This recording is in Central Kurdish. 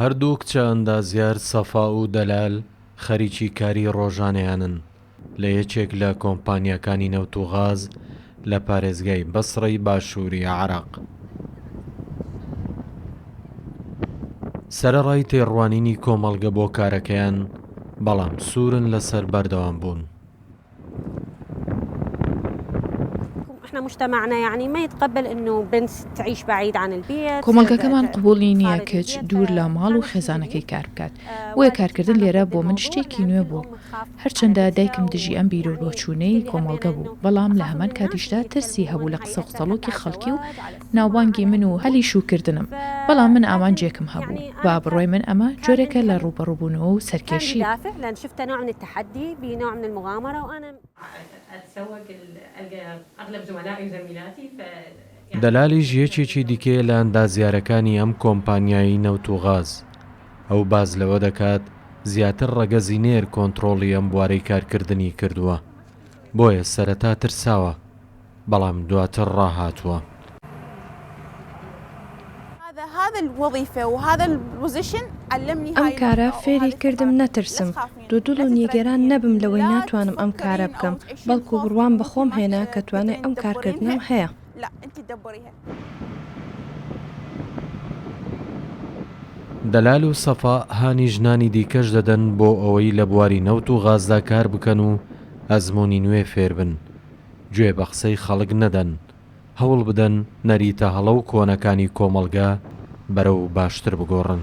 هەردوو کچە ئەندازیار سەفا و دەلال خەریکی کاری ڕۆژانەیانن لە یەکێک لە کۆمپانیاکانی نەوت و غاز لە پارێزگای بەسڕەی باشووری عێراق. سەرەڕای تێڕوانینی کۆمەڵگە بۆ کارەکەیان، بەڵام سوورن لەسەر بەردەوامبوون. کۆمەڵگەکەمان قبوڵی نییە کچ دوور لە ماڵ و خێزانەکەی کار بکات، بۆیە کارکردن لێرە بۆ من شتێکی نوێ بوو. هەرچەندە دایکم دژی ئەم بیرو بۆچوونەی کۆمەڵگە بوو، بەڵام لە هەمان کاتیشدا ترسی هەبوو لە قسە و قسەڵۆکی خەڵکی و ناوبانگی من و هەلی شووکردنم، بەڵام من ئامانجێکم هەبوو، بە بڕوای من ئەمە جۆرێکە لە ڕووبەڕووبوونەوە و سەرکێشی. دەلالیش یەکێکی دیکەیە لە ئەندازیارەکانی ئەم کۆمپانیای نەوت و غاز. ئەو باس لەوە دەکات، زیاتر ڕەگەزی نێر کۆنتڕۆڵی ئەم بوارەی کارکردنی کردووە، بۆیە سەرەتا ترساوە. بەڵام دواتر ڕاهاتووە. ئەم کارە فێری کردم نەترسم، دوودڵ و نیگەران نەبم لەوەی ناتوانم ئەم کارە بکەم، بەڵکو بڕوام بە خۆم هێنا کە توانای ئەم کارکردنەم هەیە. دەلال و سەفا هانی ژنانی دیکەش دەدەن بۆ ئەوەی لە بواری نەوت و غازدا کار بکەن و ئەزموونی نوێ فێر بن. گوێ بە قسەی خەڵک نەدەن، هەوڵ بدەن نەریتە هەڵە و کۆنەکانی کۆمەڵگە بەرەو باشتر بگۆڕن.